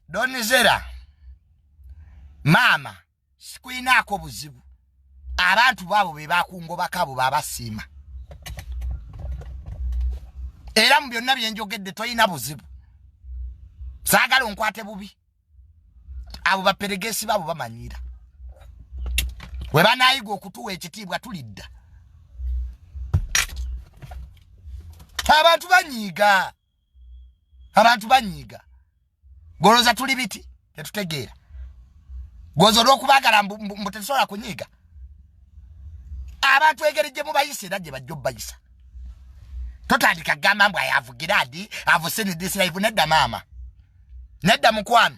donizera maama sikulinaako buzibu abantu baabo be bakungobako abo babasiima era mu byonna byenjogedde tolina buzibu saagala onkwate bubi abo baperegesi baabo bamanyiira we banaayiga okutuwa ekitiibwa tulidda abantu banyiiga abantu banyiiga goloza tuli biti tetutegeera goza olwokubagala mbu tetusobola kunyiiga abantu engeri gye mubayisa era gye bajja obubayisa totandika kugamba mbu ayavugira adi avuse nedisiraivu nedda maama nedda mukwano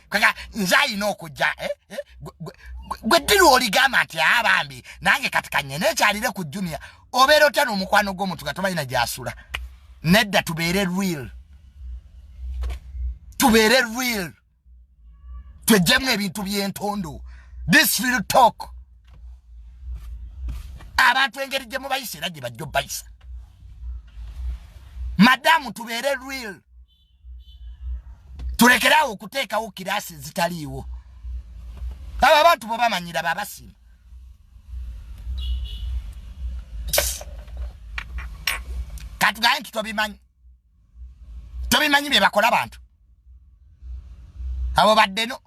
kaka nze alina okujja eh, eh, gwe ddiru oligamba nti aa ah, bambi nange kati kanye nekyalire ku junia obeera otya n'omukwano gw'omuntu nga tomanyi na gyasula nedda tubeere real tubeere real twejjemu ebintu by'entondo this real talk abantu engeri gye mubayisa era gye bajja obayisa madamu tubeere real tulekeraawo okuteekawo kiraasi ezitaliiwo abo abantu bwe bamanyira babasiima katugaye nti tobimanyi tobimanyi bye bakola bantu abo baddeno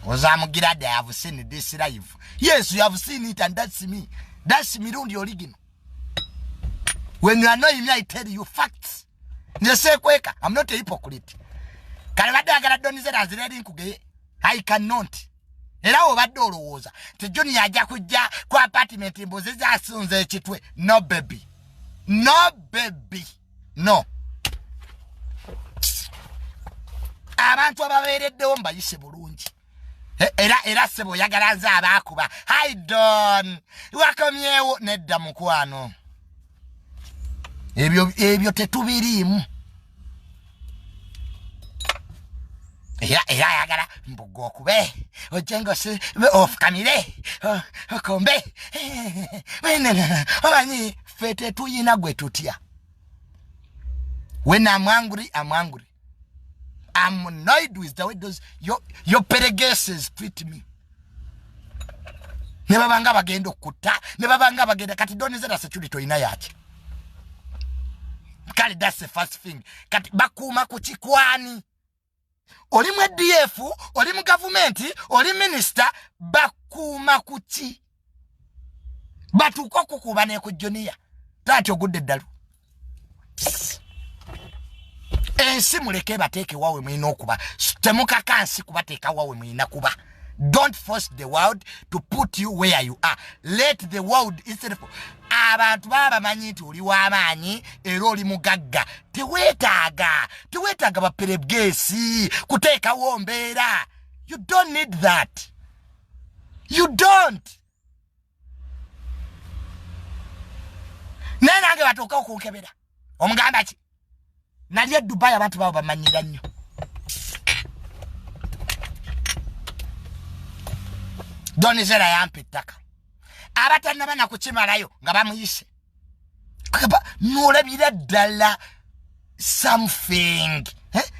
ozamugira da have seen this life yes you have seen it and that's me that's mirundi original when you annoy me i tell you facts nesekweka i'm not a hypocrite kale badde agala donizera azireri nkugeye i cannot era obadde olowooza ti junior ajja kujja ku apartment mbuzi zasunza ekitwe no baby no baby no abantu ababeereddewo mbayise bulungi e, era era sebo oyagala nze abaakuba haidon wakomyewo nedda mukwano ebyo ebyo tetubiriimu era era ayagala mbuga okube ojengosi ofukamire okombe omanyi ffe tetuyina gwe tutya when am angry am angry am annoyed with the way those your, your peregeses treat me ne babanga bagenda okutta ne babanga bagenda kati donizera security olina yaki kale that's the first thing kati bakuuma ku kikwani oli mu edf oli mu gavumenti oli minisita bakuuma ku ki batuuka okukuuba neku juniya taati ogudde eddalu ensi muleke ebateeke wawe mulina okuba temukakansi kubateeka wawe mulina kuba don't force the world to put you where you are let the world itself abantu baba bamanyi nti oli w'amaanyi era oli mugagga teweetaaga teweetaaga baperebgeesi kuteekawo mbeera you don't need that you don't naye nange batuuka okunkebera omugamba ki nali e dubai abantu babo bamanyira nnyo donizera yampa ettaka abatanaba nakukimalayo nga bamuyise akaba nolabira ddala something eh?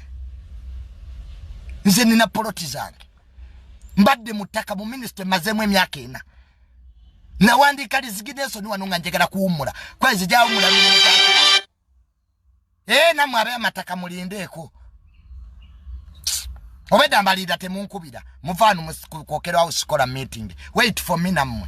nze nina poloti zange mbadde mu ttaka mu minisita emazeemu emyaka ena nawandiika lizigina ensoni wano nga njagala kuwummula kuba nze gyawummula miringa ee eh, namwe abe amataka mulindeeko obedda mbaliira temunkubira muvaanu kwokerwawo sikola meeting wait for me nammwe